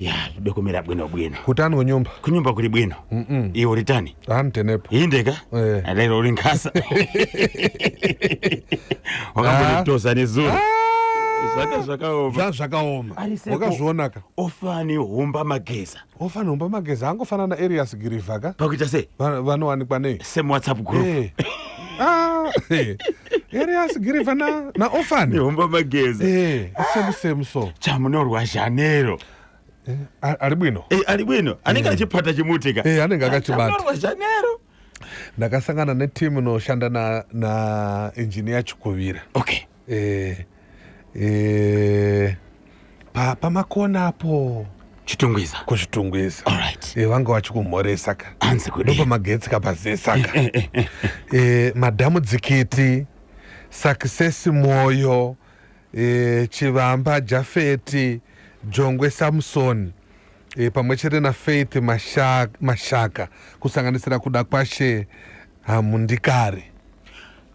ya dokumira bwino bwino kutani kunyumba kunyumba kuri bwino iwe uri tani antenepo indeka Eh. lero uri nkasa wakambonitosa nezuro zvaka zvakaoma zva zvakaoma Ari seko. wakazvionaka ofani humba mageza ofana humba mageza angofana naarias girivha ka pakuita sei Vano- vanowanikwa nei same whatsapp group Eh. Ah, eh. here asigiriva naofani homba mageza eh, same same so chamunorwa zhanero eh, ari bwino eh, ari bwino anenge eh. achipata chimutika eh, anenge akachibatorwa zhanero ndakasangana netimu inoshanda na, na engineer chikuvira okay eh. eh, pa, pamakona apo chitungwiza kuzvitungwiza Alright. eh, vanga vachikumhoresa ka Hanzi kudii? ndopamagetsi kapazesa ka Eh, eh, eh, eh. eh, madhamu dzikiti success moyo eh, chivamba jafeti jongwe samson eh, pamwe chete na faith mashaka, mashaka kusanganisira kuda kwashe hamundikari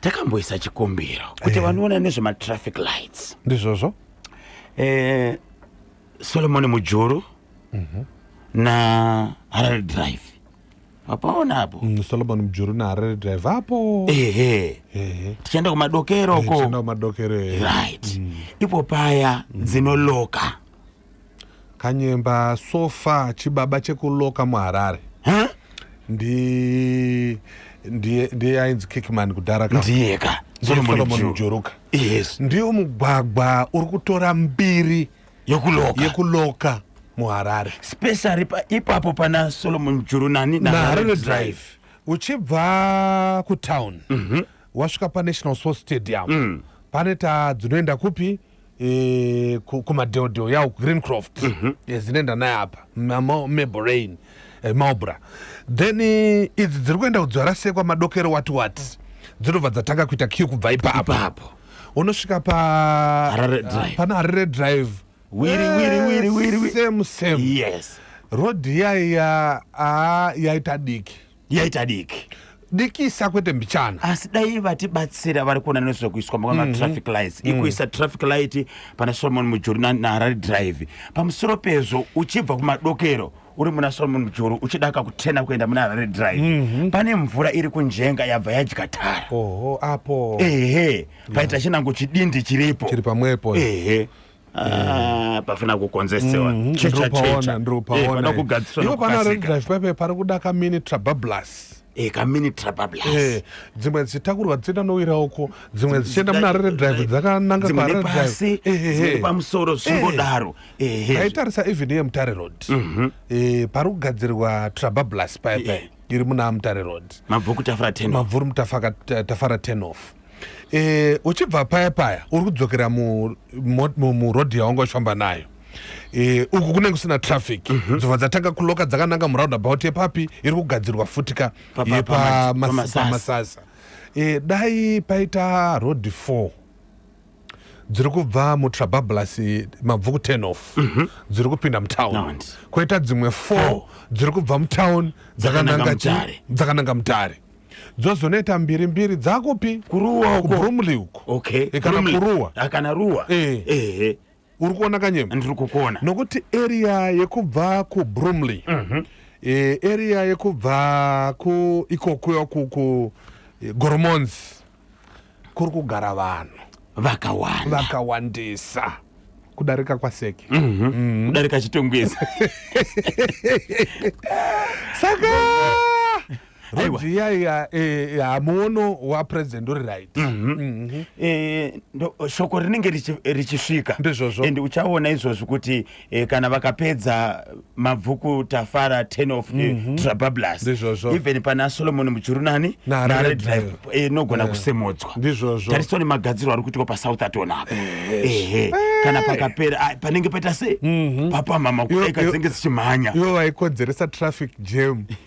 takamboisa chikumbiro kuti eh. vanoona nezvematraffic lights ndizvozvo eh, solomoni mujuru mm -hmm. na harare drive apaona apo mm, solomoni mujuru na harare drive apo ehe tichaenda kumadokero eh, ko kumadokero right mm. ipo paya mm. dzinoloka kanyemba so far chibaba chekuloka muharare huh? ndi ndiye ndiye ainzi kickman kudhara ka ndiye ka solomon mjuruka yes ndiwo mugwagwa uri kutora mbiri yekuloka yekuloka muharare specially ipapo pana solomon mjuru nani naharare drive uchibva kutown mm -hmm. wasvika panational sports stadium mm. pane tadzinoenda kupi eh, kumadheodheo yawo greencroft mm -hmm. yes, inoenda naye apa maborain eh, maubra then eh, idzi dziri kuenda kudzarasekwa madokero wati wati dzinobva dzatanga kuita kiu kubva ipapo ipapo unosvika pa harare drive pana harare drive wiri wiri wiri wiri same same yes road iya iya a yaita diki yaita diki dikisa kwete mbichana asi dai vatibatsira vari kuona nezvekuiswa mm -hmm. traffic lights mm. ikuisa traffic light pana solomon mujuru naharare drive pamusoro pezvo uchibva kumadokero uri muna solomon mujuru uchidaka kutena kuenda muna harare drive mm -hmm. pane mvura iri kunjenga yabva yadya tara oho apo ehe paita yeah. chinango chidindi chiripo chiri pamwepo ehe Ah, pafana kukonzesewa mm, checha checha eh, ndropaona kugadziswa iwo pana red drive pepe pari kuda ka mini trabablas eh ka mini trabablas eh dzimwe dzitakurwa dzina nowira uko dzimwe dzichenda muna red drive dzakananga pa red drive eh pa musoro zvingodaro eh eh aitarisa even ye mutare road mhm. eh pari kugadzirwa trabablas pepe iri muna mutare road mabvuku tafara 10 mabvuru mutafaka tafara 10 off e, uchibva paya paya uri kudzokera murodhi yawanga uchifamba nayo e, uku kunenge kusina traffic mm -hmm. dzova dzatanga kuloka dzakananga muroundabout yepapi iri kugadzirwa futika yepamasasa e, eh, dai paita road four dziri kubva mutrabablas mabvuku ten off mhm. dziri kupinda mutown koita dzimwe four dziri kubva mutown dzakananga mutare dzozoneta mbiri mbiri dzakupi kuruwa uko kubrumley uko okay e kana kuruwa akana ruwa eh eh uri kuona kanyema ndiri kukuona nokuti area yekubva kubrumley mm -hmm. e, area yekubva ku ikokuyo ku, ku e, goromonzi kuri kugara vanhu vakawanda vakawandisa kudarika kwaseke mm -hmm. mm. kudarika chitongwezi saka rodiyaiya eh, hamuono eh, wapresident uri right mhm. Mhm. Eh, shoko rinenge richisvika ndizvozvo and uchaona izvozvi kuti eh, kana vakapedza mabvuku tafara ten of mm -hmm. trabablas ndizvozvo even pana solomon mujurunani nare drive eh, inogona yeah. kusemodzwa ndizvozvo tariso nemagadziro ari kuitwa pasouth atona apa eh, ehe eh. kana pakapera ah, panenge paita sei mm -hmm. papamhama kudaika dzinenge dzichimhanya ivo vaikodzeresa traffic jam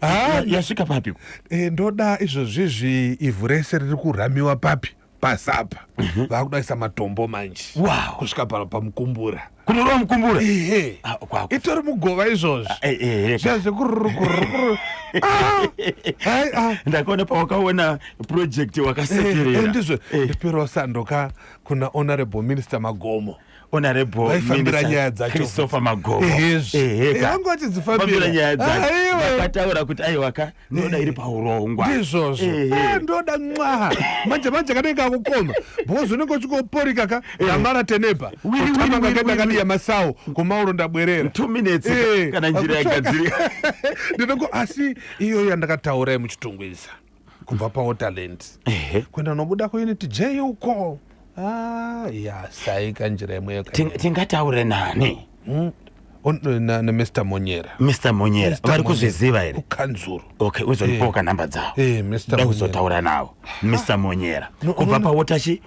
Ah, yasvika papi eh, ndoda izvozvizvi ivhu rese riri kurhamiwa papi pasapa mhm. vakudaisa matombo manje kusvika pano pamukumbura kunorova mukumbura ah, itori mugova izvozvo ah, eh, eh, eh, zviya zvekururukuru ndakaona pawakaona project wakasekerera ndizvo ndipirawo sandoka kuna honorable minister magomo honorablechristoher magoakataura kuti aiwaka ndoda iri paurongwa ndizvozvo eh, ndoda nxa manje manje kanenge kakukoma because unenge uchikoporika ka amara teneba utamangakadakadiya masawo komauro ndabwerera two minutes kana njira yagadzirika ndinongo asi iyoyo yandakataura yemuchitungwiza kubva pawaterland kuenda nobuda kuunit j uko ah, ya saika njira imweyo tingataure nani hmm? nemr monyera mr monyera vari kuzviziva here kukanzuru okay uzondipoka eh. nhamba dzavo eh, da kuzotaura navo mr monyera kubva pawotachi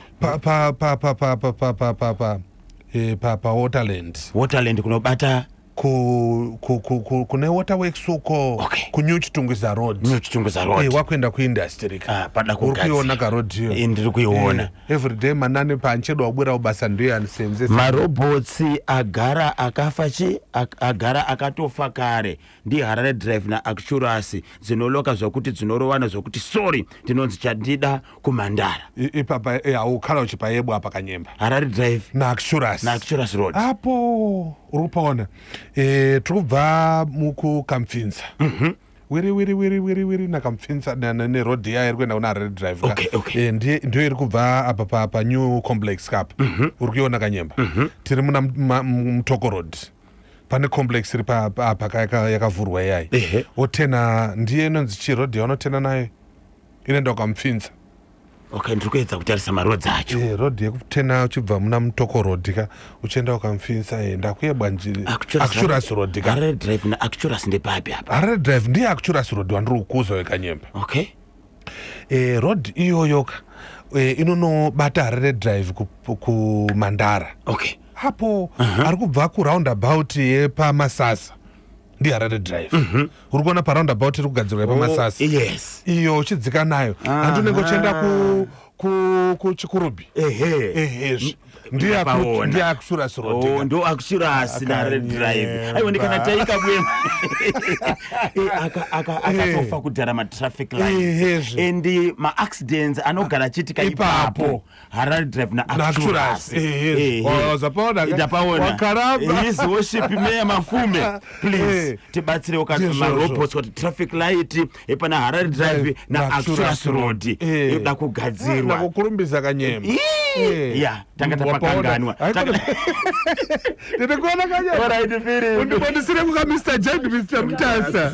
pawaterland waterland kunobata ku, ku, ku, ku, kune waterworks uko okay. kunew chitungwiza road new chitungwiza road hey, eh, wakuenda kuindustry ka ah, pada uri kuiona ka road hiyo hey, eh, ndiri kuiona hey, eh, every day manane panchedo wabwira ubasa ndiyo yanisenzesa marobots agara akafa chi agara akatofa kare ndi harare drive na acturasi dzinoloka zvakuti dzinorovana zvakuti sorry ndinonzi chandida kumandara ipapa eh, haukhala uchipa yebo apa kanyemba harari drive naacturas naacturas road apo uri kupaona e, tiri kubva mukukampfinza mm -hmm wiri wiri wiri wiri wiri nakamupfinza neroad iya iri kuenda kuna harare drive okay, okay. e, eh, ndiyo, ndiyo iri kubva apa pa, pa new complex kapa mm -hmm. uri kuiona kanyemba mm -hmm. tiri muna mutoko road pane complex iri papa yakavhurwa iyai wotena ndiye inonzi chiroad yaunotena nayo ine ndakamupfinza okay ndiri kuedza kutarisa marodzi acho e, eh, rodhi yekutena uchibva muna mutoko rodhi ka uchienda ukamupfinza e, ndakuyebwa njiri acturas rodhi ka harare drive naacturas ndepapi apa harare drive ndiye acturas rodhi wandiri kukuza wekanyemba okay e, rodhi iyoyo ka e, inonobata harare drive kumandara ku okay hapo uh -huh. ari kubva kuroundabout yepamasasa ndiharare drive mhm. uri kuona paroundabout iri kugadzirwa yepamasasi oh, yes. iyo uchidzika nayo handi unenge uchienda kuchikurubi ehezvi ndiakushurasi oh, ndo akushurasi nare drive aiwa ndikana taika bwema eh, akatofa kudhara matraffic lights and maaccidents anogara achiitika ipapo harare drive naacturas worship meya mafume please eh. tibatsirewo kamarobots kuti traffic light epana eh, harare drive eh, naacturas road yoda kugadzirwa kukurumbisa kanyema ya tanga tapakanganwa tiri kuona kanyema undibondisire kuka mr jad mr mtasa